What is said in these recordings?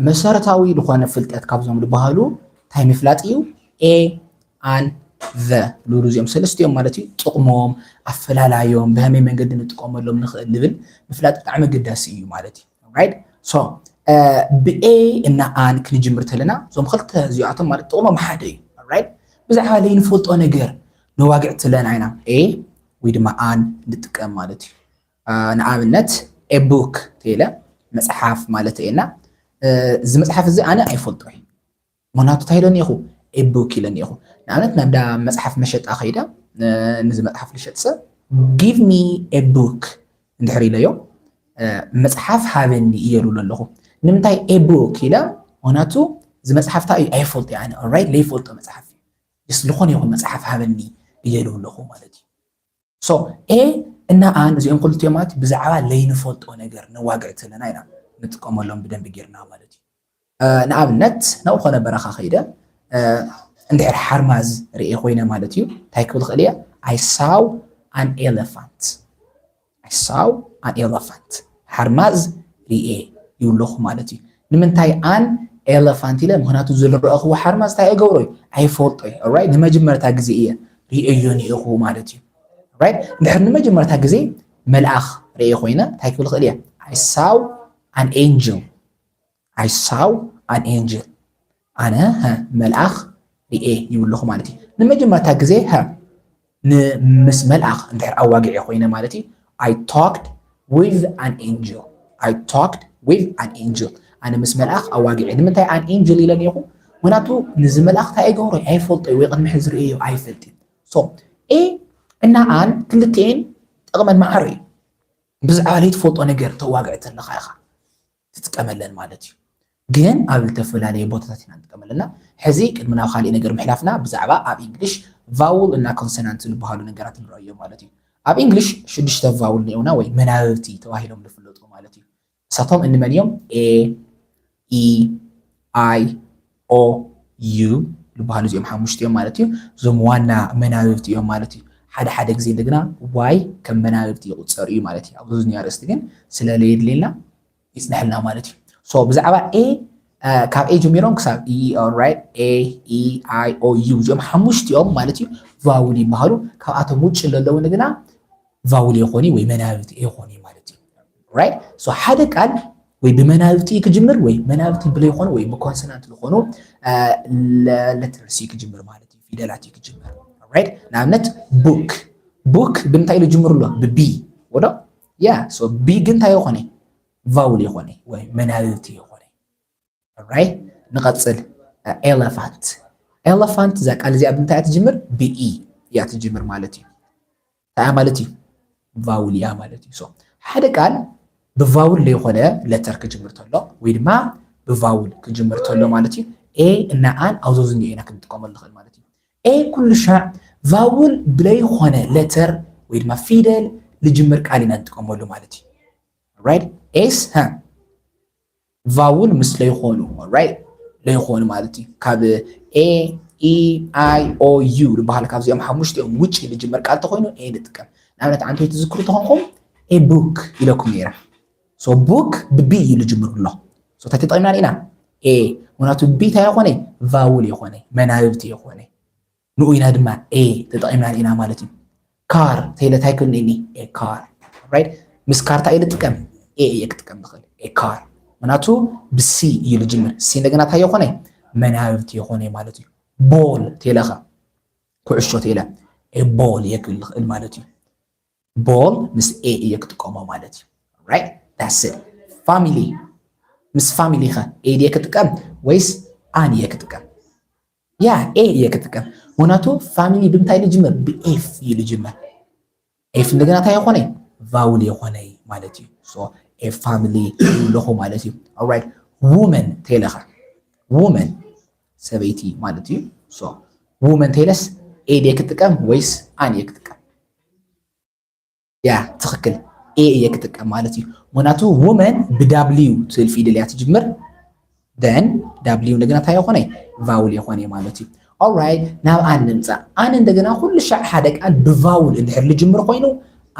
መሰረታዊ ልኾነ ፍልጠት ካብዞም ልበሃሉ እንታይ ምፍላጥ እዩ? A and the ልብሉ እዚኦም ሰለስቲኦም ማለት እዩ ጥቕሞም፣ ኣፈላላዮም፣ ብሀመይ መንገዲ ንጥቀመሎም ንኽእል ልብል ምፍላጥ ብጣዕሚ ኣገዳሲ እዩ ማለት እዩ። ራይት ሶ ብኤ እና ኣን ክንጅምር ተለና እዞም ክልተ እዚኣቶም ማለት ጥቕሞም ሓደ እዩ። ራይት ብዛዕባ ለይንፈልጦ ነገር ነዋግዕ ትለን ዓይና ኤ ወይ ድማ ኣን ንጥቀም ማለት እዩ። ንኣብነት a book ተይለ መጽሓፍ ማለት እየ እና እዚ መጽሓፍ እዚ ኣነ ኣይፈልጦ እዩ ምክንያቱ እንታይ ኢለኒ ኢኹ a book ኢለኒ ኢኹ ንኣብነት ናብ ዳ መጽሓፍ መሸጣ ከይደ ንዚ መጽሓፍ ልሸጥ ሰብ give me a book እንድሕር ኢለዮ መጽሓፍ ሃበኒ እየ ሉሎ ኣለኹ ንምንታይ a book ኢለ ምክንያቱ እዚ መጽሓፍ እንታይ እዩ ኣይፈልጦ ኣነ ኦራይት ለይፈልጦ መጽሓፍ እዩ ስ ዝኾነ ይኹን መጽሓፍ ሃበኒ እየ ሉለኹ ማለት እዩ So A እና An እዚኦም ክልቲኦም ማለት ብዛዕባ ለይንፈልጦ ነገር ነዋግዕ ተለና ኢና ንጥቀመሎም ብደንቢ ጌርና ማለት እዩ። ንኣብነት ናብ ኾነ በረኻ ከይደ እንድሕር ሓርማዝ ርኤ ኮይነ ማለት እዩ እንታይ ክብል ኽእል እየ I saw an elephant I saw an elephant ሓርማዝ ሪኤ ይብለኹ ማለት እዩ ንምንታይ ኣን ኤለፋንት ኢለ ምክንያቱ ዝረኣኽዎ ሓርማዝ እንታይ እገብሮ እዩ ኣይፈልጦ እዩ ኦራይ ንመጀመርታ ግዜ እየ ሪኤዮ ኒኢኹ ማለት እዩ ራይት እንድሕር ንመጀመርታ ግዜ መልኣኽ ርኤ ኮይነ እንታይ ክብል ክእል እየ ኣይ ሳው ኣን ኤንጅል I saw an angel ኣነ መልኣኽ ርኤ ይብለኹ ማለት እዩ ንመጀመርታ ግዜ ምስ መልኣኽ እንድሕር ኣዋጊዐ ኮይነ ማለት እዩ I talked with an angel I talked with an angel ኣነ ምስ መልኣኽ ኣዋጊዐ ንምንታይ ኣን ኤንጅል ኢለ ኔኹ ምክንያቱ ንዚ መልኣኽ እንታይ ኣይገብሮ ኣይፈልጦ እዩ ወይ ቅድሚ ሕዚ ርእዮ ኣይፈልጥ እዩ ሶ ኤ እና ኣን ክልትኤን ጥቕመን ማዕረ እዩ ብዛዕባ ዘይትፈልጦ ነገር ተዋግዕ ዘለኻ ኢኻ ትጥቀመለን ማለት እዩ ግን ኣብ ልተፈላለየ ቦታታት ኢና ንጥቀመለና ሕዚ ቅድሚ ናብ ካሊእ ነገር ምሕላፍና ብዛዕባ ኣብ ኢንግሊሽ ቫውል እና ኮንሰናንት ዝበሃሉ ነገራት ንረእዮ ማለት እዩ ኣብ ኢንግሊሽ ሽዱሽተ ቫውል ነኡና ወይ መናብብቲ ተባሂሎም ዝፍለጡ ማለት እዩ ንሳቶም እንመን እዮም ኤ ኢ ኣይ ኦ ዩ ዝበሃሉ እዚኦም ሓሙሽተ እዮም ማለት እዩ። እዞም ዋና መናብብቲ እዮም ማለት እዩ። ሓደ ሓደ ግዜ እንደገና ዋይ ከም መናብብቲ ይቑፀር እዩ ማለት እዩ። ኣብ ዙዝኒ ኣርእስቲ ግን ስለለየድልየልና ይፅነሐልና ማለት እዩ። ሶ ብዛዕባ ኤ ካብ ኤ ጀሚሮም ክሳብ ኢኦራይት ኤ ኢ ኣይ ኦ ዩ እዚኦም ሓሙሽቲኦም ማለት እዩ ቫውል ይበሃሉ። ካብኣቶም ውጭ ለለዉ ንግና ቫውል የኾኒ ወይ መናብብቲ የኾኒ ማለት እዩ። ራይት ሶ ሓደ ቃል ወይ ብመናብቲ ክጅምር ወይ መናብቲ ብለይኾኑ ወይ ብኮንሶናንት ዝኾኑ ለተርስ እዩ ክጅምር ማለት እዩ ፊደላት እዩ ክጅምር ራይት ንኣብነት ቡክ ቡክ ብምንታይ ኢሉ ጅምሩ ኣሎ ብቢ ወዶ ያ ሶ ቢ ግን እንታይ ይኾነ ቫውል ይኾነ ወይ መናብብቲ ይኾነ ኦራይት ንቐጽል ኤለፋንት ኤለፋንት እዛ ቃል እዚኣ ብምንታይ እያ ትጅምር ብኢ እያ ትጅምር ማለት እዩ እንታይ ማለት እዩ ቫውል እያ ማለት እዩ ሶ ሓደ ቃል ብቫውል ዘይኮነ ለተር ክጅምር ተሎ ወይ ድማ ብቫውል ክጅምር ተሎ ማለት እዩ ኤ እና ኣን ኣብዞ ዝኒኦ ኢና ክንጥቀመሉ ንኽእል ማለት እዩ ኤ ኩሉ ሻዕ ቫውል ብለይኮነ ለተር ወይ ድማ ፊደል ልጅምር ቃል ኢና ንጥቀመሉ ማለት እዩ ራይት ኤስ ሃ ቫውል ምስ ለይኾኑ ራይት ለይኾኑ ማለት እዩ ካብ ኤ ኢ ኣይ ኦ ዩ ዝበሃል ካብዚኦም ሓሙሽቲኦም ውጭ ዝጅመር ቃል ተኮይኑ ኤ ንጥቀም ንኣብነት ዓንተይ ትዝክሩ ተኾንኩም ኤ ቡክ ኢለኩም ነይረ ሶ ቡክ ብቢ እዩ ዝጅምር ኣሎ ሶ እንታይ ተጠቂምና ኢና ኤ ምክንያቱ ቢ እንታይ የኮነ ቫውል የኮነ መናብብቲ የኮነ ንኡ ኢና ድማ a ተጠቒምናሉ ኢና ማለት እዩ። car ተይለ ታይ ክብል እኒ a car right ምስ car ታይ ልጥቀም a እየ ክጥቀም ዝኽእል a car ምክንያቱ ብሲ እዩ ልጅምር ሲ እንደገና ታይ የኾነ መናብብቲ የኾነ ማለት እዩ። ball ተይለ ከ ኩዕሾ ተይለ a ball እየ ክብል ዝኽእል ማለት እዩ። ball ምስ a እየ ክጥቀሞ ማለት እዩ right that's it family ምስ family ከ a ድየ ክጥቀም ወይስ ኣን እየ ክጥቀም ያ ኤ እየ ክጥቀም ምክንያቱ ፋሚሊ ብምንታይ ኢሉ ጅምር ብኤፍ እዩ ዝጅምር ኤፍ እንደገና እንታይ የኾነ ቫውል የኾነ ማለት እዩ ሶ ኤፍ ፋሚሊ ኣለኹ ማለት እዩ ኦራይት ውመን ተይለኸ ውመን ሰበይቲ ማለት እዩ ሶ ውመን ተይለስ ኤድ ክጥቀም ወይስ ኣን ክጥቀም ያ ትክክል ኤ እየ ክጥቀም ማለት እዩ ምክንያቱ ውመን ብዳብልዩ ትብል ፊደል እያ ትጅምር ደን ዳብልዩ እንደገና እንታይ የኮነ ቫውል የኮነ ማለት እዩ ኦራይት ናብ ኣን ንምፃእ ኣን እንደገና ኩሉ ሻዕ ሓደ ቃል ብቫውል እንድሕር ልጅምር ኮይኑ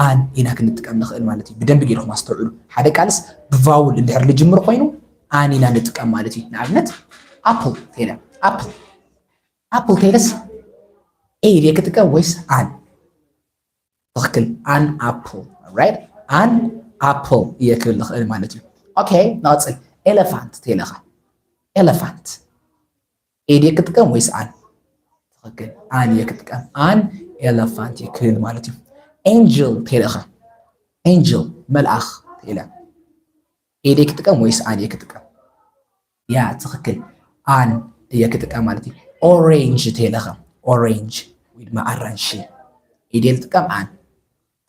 ኣን ኢና ክንጥቀም ንኽእል ማለት እዩ ብደንቢ ገይርኩም ኣስተውዕሉ ሓደ ቃልስ ብቫውል እንድሕር ልጅምር ኮይኑ ኣን ኢና ንጥቀም ማለት እዩ ንኣብነት ኣፕል ተይለ ኣፕል ኣፕል ተይለስ ኤ ድየ ክጥቀም ወይስ ኣን ትኽክል ኣን ኣፕል ራይት ኣን ኣፕል እየ ክብል ዝኽእል ማለት እዩ ኦኬ ንቐፅል ኤለፋንት ተይለኻ ኤለፋንት ኤድ እየ ክጥቀም ወይስ ኣን ትኽክል ኣን እየ ክጥቀም ኣን ኤለፋንት እየ ክብል ማለት እዩ ኤንጅል ተይለኻ ኤንጅል መልኣኽ ተይለ ኤድ እየ ክጥቀም ወይስ ኣን እየ ክጥቀም ያ ትኽክል ኣን እየ ክጥቀም ማለት እዩ ኦሬንጅ ተይለኸም ኦሬንጅ ወይ ድማ ኣራንሺ ኢደ ልጥቀም ኣን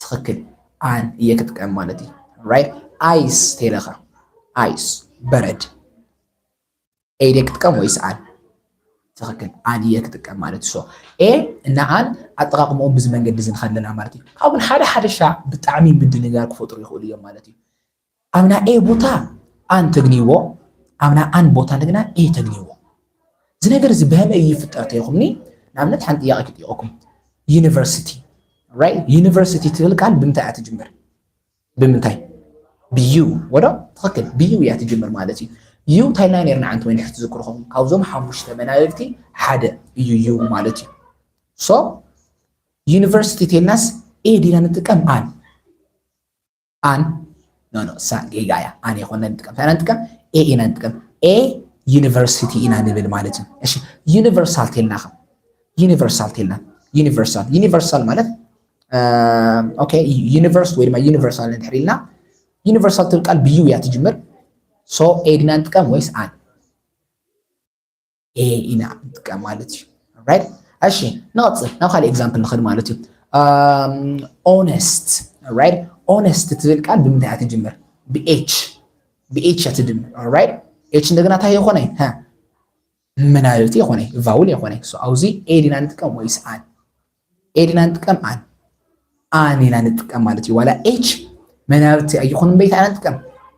ትኽክል ኣን እየ ክጥቀም ማለት እዩ ራይት ኣይስ ተይለኸ ኣይስ በረድ ኢደ ክጥቀም ወይስ ኣን ትኽክል ኣን እየ ክጥቀም ማለት እዩ ኤ እና ኣን ኣጠቃቅምኦም ብዚ መንገዲ እዚ ንኸለና ማለት እዩ ካብኡን ሓደ ሓደሻ ብጣዕሚ ምድንጋር ክፈጥሩ ይኽእሉ እዮም ማለት እዩ ኣብና ኤ ቦታ ኣን ተግንይዎ ኣብና ኣን ቦታ ደግና ኤ ተግንይዎ እዚ ነገር እዚ በህመ እዩ ይፍጠር ተይኹምኒ ንኣብነት ሓንቲ ጥያቄ ክጥይቀኩም ዩኒቨርሲቲ ራይት ዩኒቨርሲቲ ትብል ቃል ብምንታይ እያ ትጅምር ብምንታይ ብዩ ወዶ ትኽክል ብዩ እያ ትጅምር ማለት እዩ እዩ እንታይ ናይ ነርና ዓንቲ ወይኒ ክትዝክሩ ኹም ካብዞም ሓሙሽተ መናብብቲ ሓደ እዩ እዩ ማለት እዩ ሶ ዩኒቨርሲቲ ቴልናስ ኤ ዲና ንጥቀም ኣን ኣን ኖ ኖ እሳ ጌጋ እያ ኣን የኮነ ንጥቀም እንታይ ኢና ንጥቀም ኤ ኢና ንጥቀም ኤ ዩኒቨርሲቲ ኢና ንብል ማለት እዩ እሺ ዩኒቨርሳል ቴልና ከ ዩኒቨርሳል ቴልና ዩኒቨርሳል ዩኒቨርሳል ማለት ኦኬ ዩኒቨርስ ወይ ድማ ዩኒቨርሳል ንድሕር ኢልና ዩኒቨርሳል ትብል ቃል ብዩ እያ ትጅምር ሶ ኤ ድና ንጥቀም ወይስ ኣን ኤ ኢና ንጥቀም ማለት እዩ ራይት እሺ ንቐፅል ናብ ካልእ ኤግዛምፕል ንኸድ ማለት እዩ ኦነስት ራይት ኦነስት ትብል ቃል ብምንታይ እያ ትጅምር ብኤች ብኤች እያ ትድምር ራይት ኤች እንደገና እንታይ የኾነ ምናልቲ የኾነ ቫውል የኾነ ኣብዚ ኤ ዲና ንጥቀም ወይስ ኣን ኤል ኢና ንጥቀም ኣን ኣን ኢና ንጥቀም ማለት እዩ ዋላ ኤች መናብርቲ ኣይኹን እምበይ እንታይ ኢና ንጥቀም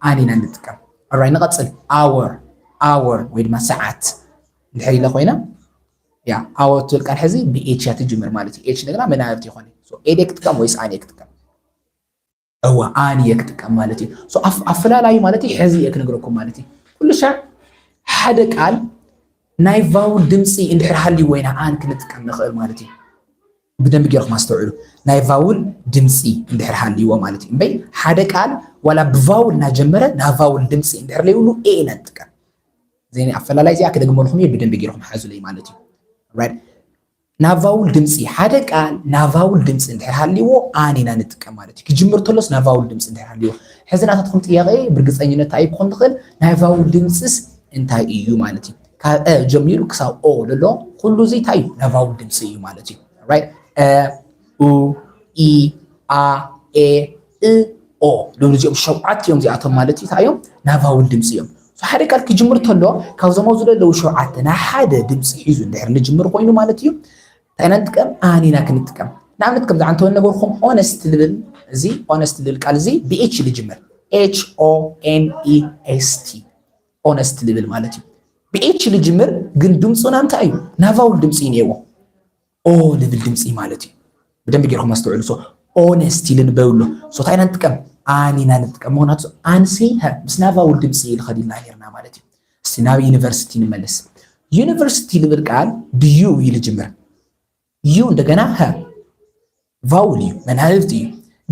ኣን ኢና ንጥቀም ራይ ንቐፅል ኣወር ኣወር ወይ ድማ ሰዓት እንድሕር ኢለ ኮይና ያ ኣወር ትብል ቃል ሕዚ ብኤች እያ ትጅምር ማለት እዩ ኤች እንደገና መናብርቲ ይኾነ ኤል ክትጥቀም ወይስ ኣን ክትጥቀም እወ ኣን እየ ክጥቀም ማለት እዩ ኣፈላላዩ ማለት እዩ ሕዚ እየ ክነግረኩም ማለት እዩ ኩሉ ሻዕ ሓደ ቃል ናይ ቫውል ድምፂ እንድሕር ሃልይዎ ኢና ኣን ክንጥቀም ንኽእል ማለት እዩ ብደንብ ጌርኩም ኣስተውዕሉ ናይ ቫውል ድምፂ እንድሕር ሃልይዎ ማለት እዩ እምበይ ሓደ ቃል ዋላ ብቫውል እናጀመረ ናይ ቫውል ድምፂ እንድሕር ለይብሉ ኤ ኢና ንጥቀም ዘይ ኣፈላላይ እዚኣ ክደግመልኩም እየ ብደንብ ጌርኩም ሓዙለይ ማለት እዩ ናብ ቫውል ድምጺ፣ ሓደ ቃል ናብ ቫውል ድምጺ እንድሕር ሃልይዎ ኣን ኢና ንጥቀም ማለት እዩ። ክጅምር ተሎስ ናብ ቫውል ድምጺ እንድሕር ሃልይዎ። ሕዚ ናታትኩም ጥያቄ ብርግጸኝነት ታይ ክኮን ዝክእል ናይ ቫውል ድምጽስ እንታይ እዩ ማለት እዩ። ካብ እ ጀሚሩ ክሳብ ኦ ልሎ ኩሉ እዚ ታይ እዩ ናብ ቫውል ድምጺ እዩ ማለት እዩ። ራይት እ ኡ ኢ ኣ ኤ እ ኦ ዝብሉ እዚኦም ሸውዓት እዮም እዚኣቶም ማለት እዩ እንታይ እዮም ናይ ቫውል ድምፂ እዮም ሓደ ቃል ክጅምር ተሎ ካብዞም ኣብዚ ዘለዉ ሸውዓተ ናይ ሓደ ድምፂ ሒዙ እንድሕር ንጅምር ኮይኑ ማለት እዩ እንታይ ኢና ንጥቀም ኣን ኢና ክንጥቀም ንኣብነት ከምዚ ዓንተ ነገርኩም ኦነስት ልብል እዚ ኦነስት ልብል ቃል እዚ ብኤች ልጅምር ኤች ኦ ኤን ኢ ኤስ ቲ ኦነስት ልብል ማለት እዩ ብኤች ልጅምር ግን ድምፁና እንታይ እዩ ናቫውል ድምፂ እዩ ነይዎ ኦ ልብል ድምፂ ማለት እዩ። ብደንቢ ጌርኩም ኣስተውዕሉ። ሶ ኦነስቲ ልንበብ ኣሎ። ሶ እንታይ ኢና ንጥቀም? ኣን ኢና ንጥቀም። ምክንያቱ ኣንሲ ሃ ምስ ናቫውል ድምፂ ልኸድ ኢልና ኔርና ማለት እዩ። እስቲ ናብ ዩኒቨርሲቲ ንመለስ። ዩኒቨርሲቲ ልብል ቃል ብዩ እዩ ልጅምር። ዩ እንደገና ሃ ቫውል እዩ መናብብቲ እዩ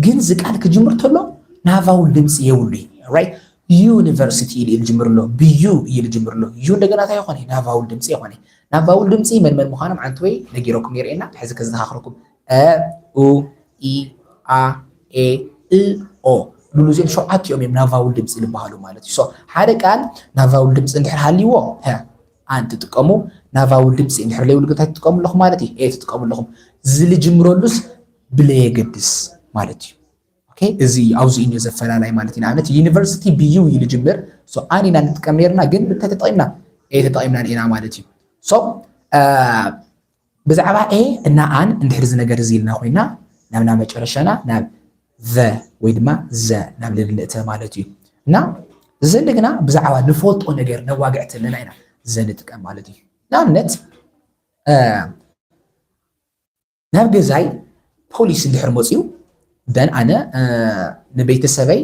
ግን እዚ ቃል ክጅምር ተሎ ና ቫውል ድምፂ የብሉ እዩ ራይት ዩኒቨርሲቲ ኢሉ እዩ ዝጅምር ኣሎ ብዩ እዩ ዝጅምር ኣሎ ዩ እንደገና እንታይ ይኾነ ና ቫውል ድምፂ ይኾነ ና ቫውል ድምፂ መን መን ምዃኖም ዓንቲ ወይ ነጊረኩም የርእየና ሕዚ ከዘኻኽረኩም እ ኡ ኢ ኣ ኤ እ ኦ ሉሉ እዚኦም ሸውዓቲኦም እዮም ና ቫውል ድምፂ ዝበሃሉ ማለት እዩ ሓደ ቃል ና ቫውል ድምፂ እንድሕር ሃልይዎ ኣን ትጥቀሙ ና ቫውል ድምጺ እንድሕር ለይብሉ ግን እንታይ ትጥቀሙ ኣለኹም ማለት እዩ? ኤ ትጥቀሙ ኣለኹም። ዝልጅምረሉስ ብለየገድስ ማለት እዩ። ኦኬ እዚ እዩ ኣብዚ እዩ ዘፈላላይ ማለት እዩ። ንኣብነት ዩኒቨርሲቲ ብዩ እዩ ልጅምር ሶ ኣን ኢና ንጥቀም ነርና ግን እንታይ ተጠቒምና ኤ ተጠቒምና ኢና ማለት እዩ። ሶ ብዛዕባ a እና an እንድሕር እዚ ነገር እዚ ኢልና ኮይና ናብ ናብ መጨረሻና ናብ the ወይ ድማ ዘ ናብ ልል ንእተ ማለት እዩ እና ዘል ግና ብዛዕባ ንፈልጦ ነገር ነዋግዕ ተለና ኢና ዘ ንጥቀም ማለት እዩ ንኣብነት ናብ ገዛይ ፖሊስ እንድሕር መፅኡ ደን ኣነ ንቤተሰበይ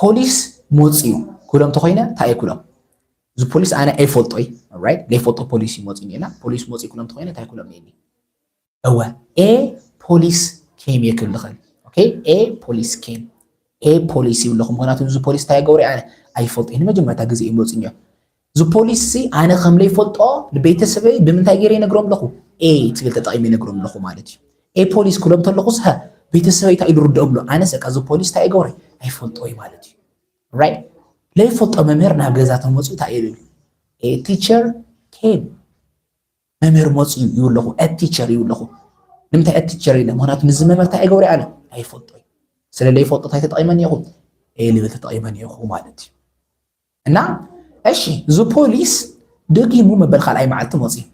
ፖሊስ ሞጺኡ ክብሎም ተኾይነ እንታይ እየ ክብሎም እዚ ፖሊስ ኣነ ኣይፈልጦይ ራይት ዘይፈልጦ ፖሊስ እዩ መፂኡ ኒኤና ፖሊስ መፂኡ ክብሎም ተኾይነ እንታይ ክብሎም ኒኤኒ እወ ኤ ፖሊስ ኬም እየ ክብል ዝኽእል ኦኬ ኤ ፖሊስ ኬም ኤ ፖሊስ ይብለኹም ምክንያቱ እዚ ፖሊስ እንታይ ገበሩ ኣነ ኣይፈልጦይ ንመጀመርታ ግዜ እዩ መፂኡ ኒኦ እዚ ፖሊሲ'ዚ ኣነ ከም ለይፈልጦ ንቤተሰበይ ብምንታይ ገይረ ይነግሮም ኣለኹ? A ትብል ተጠቒመ ይነግሮም ኣለኹ ማለት እዩ። A ፖሊስ ክብሎም እንተለኹስ ሀ ቤተሰበይ እንታይ እዩ ዝርድኦም ኣሎ? ኣነስ በቃ እዚ ፖሊስ እንታይ ይገብሮ ኣይፈልጦ እዩ ማለት እዩ። ራይት ለይፈልጦ መምህር ናብ ገዛ ተመፅኡ እንታይ እዩ ይብል? A teacher came መምህር መፅኡ ይብሉ ኣለኹ። A teacher ይብሉ ኣለኹ። ንምንታይ A teacher ኢለ? ምክንያቱ ምስዚ መምህር እንታይ ኣይገብሮ ኣነ ኣይፈልጦ እዩ። ስለ ለይፈልጦ እንታይ ተጠቒመ እኒኦኹ? A ልብል ተጠቒመ እኒኦኹ ማለት እዩ። እና እሺ እዚ ፖሊስ ደጊሙ መበል ካልኣይ መዓልቲ መፅዩ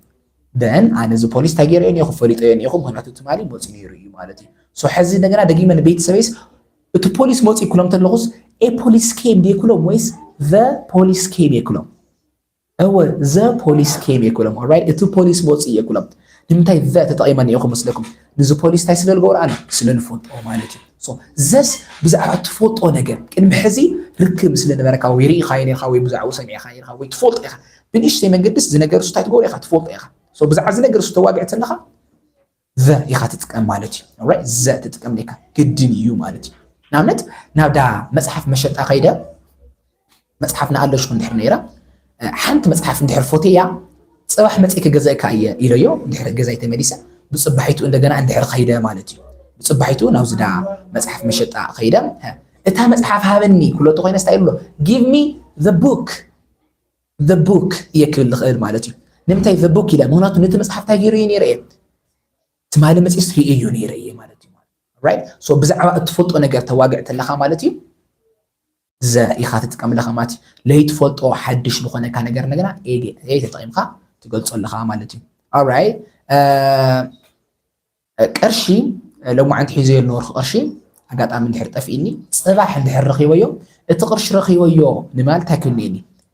ደን ኣነ እዚ ፖሊስ እንታይ ገይረዮ ኒኹ ፈሊጠዮ ኒኹ ምክንያቱ ትማሊ መፂ ነይሩ እዩ ማለት እዩ ሶ ሕዚ እንደገና ደጊመ ንቤተሰበይስ እቲ ፖሊስ መፂ ክሎም ተለኹስ ኤ ፖሊስ ኬም ዲየ ክሎም ወይስ ዘ ፖሊስ ኬም እየ ክሎም እወ ዘ ፖሊስ ኬም እየ ክሎም ኦራይት እቲ ፖሊስ መፂ እየ ክሎም ንምንታይ ዘ ተጠቂመ ኒኹ መስለኩም ንዚ ፖሊስ እንታይ ስለ ዝገብሮ ኣሎ ስለ ዝፈልጦ ማለት እዩ ሶ ዘስ ብዛዕባ ትፈልጦ ነገር ቅድሚ ሕዚ ርክብ ስለ ነበረካ ወይ ርኢኻዮ ኔርካ ወይ ብዛዕኡ ሰሚዕኻ ኔርካ ወይ ትፈልጦ ኢኻ ብንእሽተይ መንገድስ እዚ ነገር እሱ እንታይ ትገብሮ ኢኻ ትፈልጦ ኢኻ ሶ ብዛዕባ እዚ ነገር እሱ ተዋግዕ ተለኻ ዘ ኢኻ ትጥቀም ማለት እዩ ኦራይት ዘ ትጥቀም ኔርካ ግድን እዩ ማለት እዩ ንኣብነት ናብዳ መፅሓፍ መሸጣ ከይደ መጽሓፍ ንኣለሹ እንድሕር ነይራ ሓንቲ መጽሓፍ እንድሕር ፎቴያ ጽባሕ መጺ ክገዘእካ እየ ኢለዮ እንድሕር ገዛይ ተመሊሰ ብጽባሒቱ እንደገና እንድሕር ኸይደ ማለት እዩ ብጽባሒቱ ናብ ዝዳ መጽሓፍ መሸጣ ኸይደ እታ መጽሓፍ ሃበኒ ክብሎ ተኮይነ ስታይ ብሎ ጊቭ ሚ ዘ ቡክ ዘ ቡክ እየ ክብል ዝኽእል ማለት እዩ ንምንታይ ዘ ቡክ ኢለ ምክንያቱ ነቲ መጽሓፍ እንታይ ገይሩ እዩ ነይረ እየ ትማሊ መጽስ ርእዮ ነይረ እየ ማለት እዩ ብዛዕባ እትፈልጦ ነገር ተዋግዕ ተለካ ማለት እዩ ዘ ኢኻ ትጥቀምለ ከ ማለት እዩ ለይትፈልጦ ሓድሽ ልኾነካ ነገር እንደገና ኤዴ ኤ ተጠቒምካ ትገልጾ ኣለኻ ማለት እዩ ኣራይ ቅርሺ ሎማዓንቲ ሒዘዮ ኣለወርኺ ቅርሺ ኣጋጣሚ እንድሕር ጠፍኢኒ ፅባሕ እንድሕር ረኺበዮ እቲ ቅርሺ ረኺበዮ ንማል እንታይ ክንኒኒ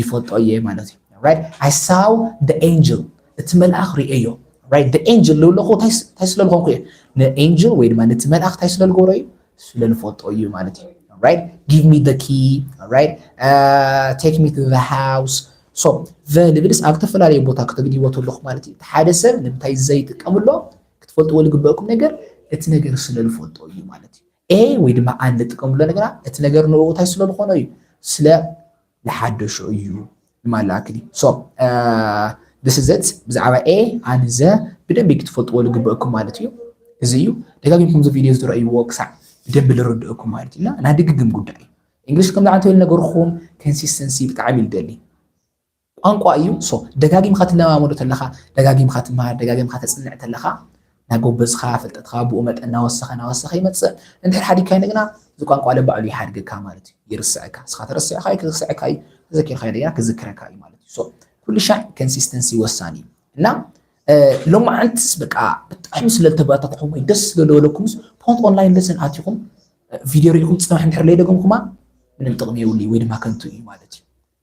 ይፈልጦ እየ ማለት እዩ right i saw the angel እቲ መልኣኽ ርእዮ right the angel ልብለኹ እንታይ ስለ ዝኾንኩ እየ ንኤንጅል ወይ ድማ ነቲ መልኣኽ እንታይ ስለ ልገብሮ እዩ ስለ ልፈልጦ እዩ ማለት እዩ right give me the key right uh, take me to the house so the ልብልስ ኣብ ዝተፈላለዩ ቦታ ክትግድይዎ ተለኹ ማለት እዩ እቲ ሓደ ሰብ ንምንታይ ዘይጥቀምሎ ክትፈልጥዎ ዝግበእኩም ነገር እቲ ነገር ስለ ልፈልጦ እዩ ማለት እዩ a ወይ ድማ ኣን ንጥቀምሉ ነገራ እቲ ነገር ንኡ እንታይ ስለ ዝኾኖ እዩ ስለ ዝሓደሾ እዩ ንማላ ኣክሊ ሶ ስ ዘት ብዛዕባ a ኣን ዘ ብደንቢ ክትፈልጥዎ ዝግበእኩም ማለት እዩ እዚ እዩ ደጋጊምኩም እዚ ቪድዮ ዝረእይዎ ክሳዕ ብደንቢ ዝረድእኩም ማለት እዩ እና ናይ ድግግም ጉዳይ እዩ እንግሊሽ ከምዚ ዓንተ ኢሉ ነገርኩም ኮንሲስተንሲ ብጣዕሚ ይደሊ ቋንቋ እዩ so ደጋጊምካ ትለማመዶ ተለኻ ደጋጊምካ ትመሃር ደጋጊምካ ተጽንዕ ተለኻ ናጎበዝኻ ፍልጠትኻ ብኡ መጠን ናወሰኸ ናወሰኸ ይመጽእ እንድሕር ሓዲግካዮ እንደገና እዚ ቋንቋ ለባዕሉ ይሓድገካ ማለት እዩ ይርስዐካ እስኻ ተረሲዕካዩ ክርስዐካ እዩ ተዘኪርካዩ እንደገና ክዝክረካ እዩ ማለት እዩ so ኩሉ ሻዕ ኮንሲስተንሲ ወሳኒ እዩ እና ሎማዓንትስ በቃ ብጣዕሚ ስለ ዝተበረታትዕኹም ወይ ደስ ስለ ዝበለኩምስ ፖንት ኦንላይን ለሰን ኣትኹም ቪድዮ ሪኢኹም ፅባሕ እንድሕር ለይደገምኩማ ምንም ጥቕሚ የብሉይ ወይ ድማ ከንቱ እዩ ማለት እዩ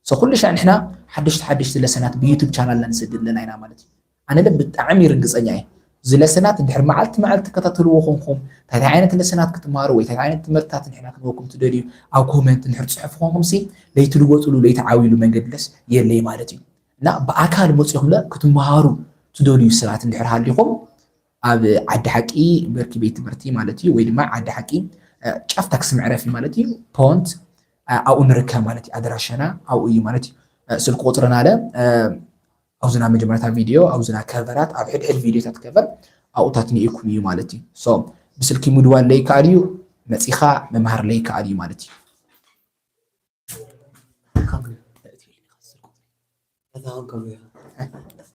So ኩልሻዕ ንሕና ሓደሽቲ ሓደሽቲ ለሰናት ብዩቱብ ቻናልና ንሰድድ ኣለና ኢና ማለት እዩ። ኣነለ ብጣዕሚ ርግጸኛ እየ እዚ ለሰናት እንድሕር መዓልቲ መዓልቲ ትከታተልዎ ኮንኩም ታይታይ ዓይነት ለሰናት ክትመሃሩ ወይ ታይታይ ዓይነት ትምህርትታት ንሕና ክንህበኩም ትደልዩ ኣብ ኮመንት እንድሕር ጽሑፍ ኮንኩምሲ ለይትልወጥሉ ለይትዓብይሉ መንገድለስ የለይ ማለት እዩ እና ብኣካል መጺኹምለ ክትመሃሩ ትደልዩ ሰባት እንድሕር ሃሊኹም ኣብ ዓዲ ሓቂ ብርኪ ቤት ትምህርቲ ማለት እዩ ወይ ድማ ዓዲ ሓቂ ጫፍ ታክሲ መዕረፊ ማለት እዩ ፖንት ኣብኡ ንርከብ ማለት እዩ ኣድራሻና ኣብኡ እዩ ማለት እዩ ስልክ ቁፅርና ኣለ ኣብዝና መጀመርታ ቪድዮ ኣብዝና ከቨራት ኣብ ሕድሕድ ቪድዮታት ከቨር ኣብኡታት ንኢኩም እዩ ማለት እዩ ሶ ብስልኪ ምድዋል ለይከኣል እዩ መፂኻ ምምሃር ለይከኣል እዩ ማለት እዩ Come here.